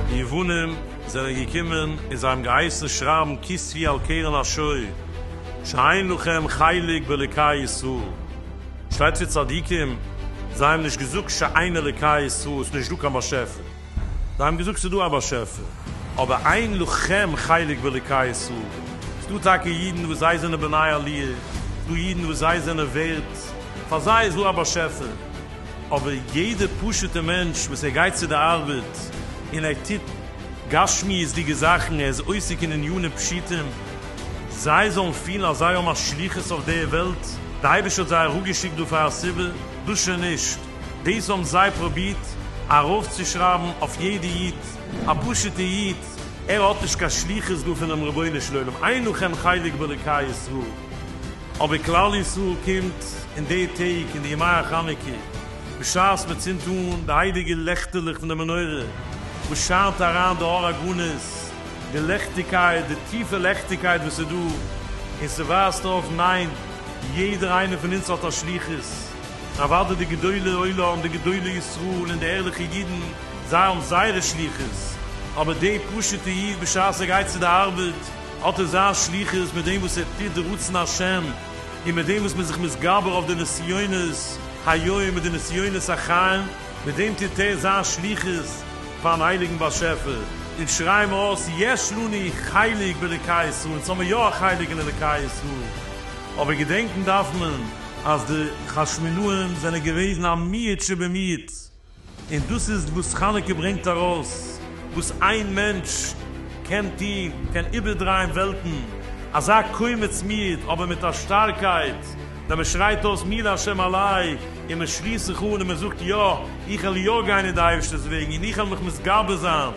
די יוונים זענען געקומען און זיי האבן געהייסן שרייבן כספי על קרן השור שאין לכם חלק באלוקי ישראל, שטייט פון צדיקים זיי האבן נישט געזאגט שאין אלוקי ישראל עס איז נישט דא קיין באשעפער. זיי האבן געזאגט ס'איז דא א באשעפער, אבער אין לכם חלק באלוקי ישראל, ס'איז דא טאקע אידן וואס זיי זענען בני עליה, ס'איז דא אידן וואס זיי זענען ווערט, פאר זיי איז דא א באשעפער, אבער יעדע פשוטע מענטש וואס ער גייט צו די ארבעט און ער טוט גשמיות'דיגע זאכן, ער איז עוסק אין ענינים פשוטים, זיי זאלן פילן אז זיי האבן א שליחות אויף די וועלט, די אייבערשטער האט זיי אראפגעשיקט דא פאר א סיבה, דאס שוין נישט. דאס האבן זיי פרובירט ארויפצושרייבן אויף יעדע איד, א פשוטע איד, ער האט נישט קיין שליחות דא פונעם רבונו של עולם, אין לכם חלק באלוקי ישראל, אבער כלל ישראל קומט אין די טעג אין די ימי החנוכה בשעת מען צינדט אן די הייליגע לעכטעלעך פון די מנורה וואס שיינט אריין די אור הגנוז, די לעכטיגקייט, די טיפע לעכטיגקייט וואס איז דא, און ס'ווייזט אויף ניין, יעדער איינער פון אונז האט א שליחות. אוואדע די גדולי עולם, די גדולי ישראל און די ערליכע אידן, זיי האבן זייערע שליחות, אבער דער פשוט'ע איד בשעת ער גייט צו די ארבעט, האט ער זיין שליחות מיט דעם וואס ער טוט די רצון השם, און מיט דעם וואס מ'איז זיך מתגבר אויף די נסיונות היום און די נסיונות החיים, מיט דעם טוט ער זיין שליחות פאר'ן הייליגן באשעפער, אונז שרייען אויס יש לנו חלק באלוקי ישראל, אונז האבן יא א חלק אין אלוקי ישראל, אבער געדענקן דארף מען. אז די חשמונאים זענען געוועזן א מיעוט שבמיעוט, און דאס איז וואס חנוכה ברענגט ארויס, וואס איין מענטש קען טוהן, קען איבערדרייען וועלטן, אזא קומץ מיעוט אבער מיט א שטארקייט, ווען מען שרייט אויס מי להשם אלי, און מען שליסט זיך אן און מען זאגט יא, איך וועל יא גיין אין די אייבערשטער'ס וועגן און איך וועל מיך מתגבר זיין.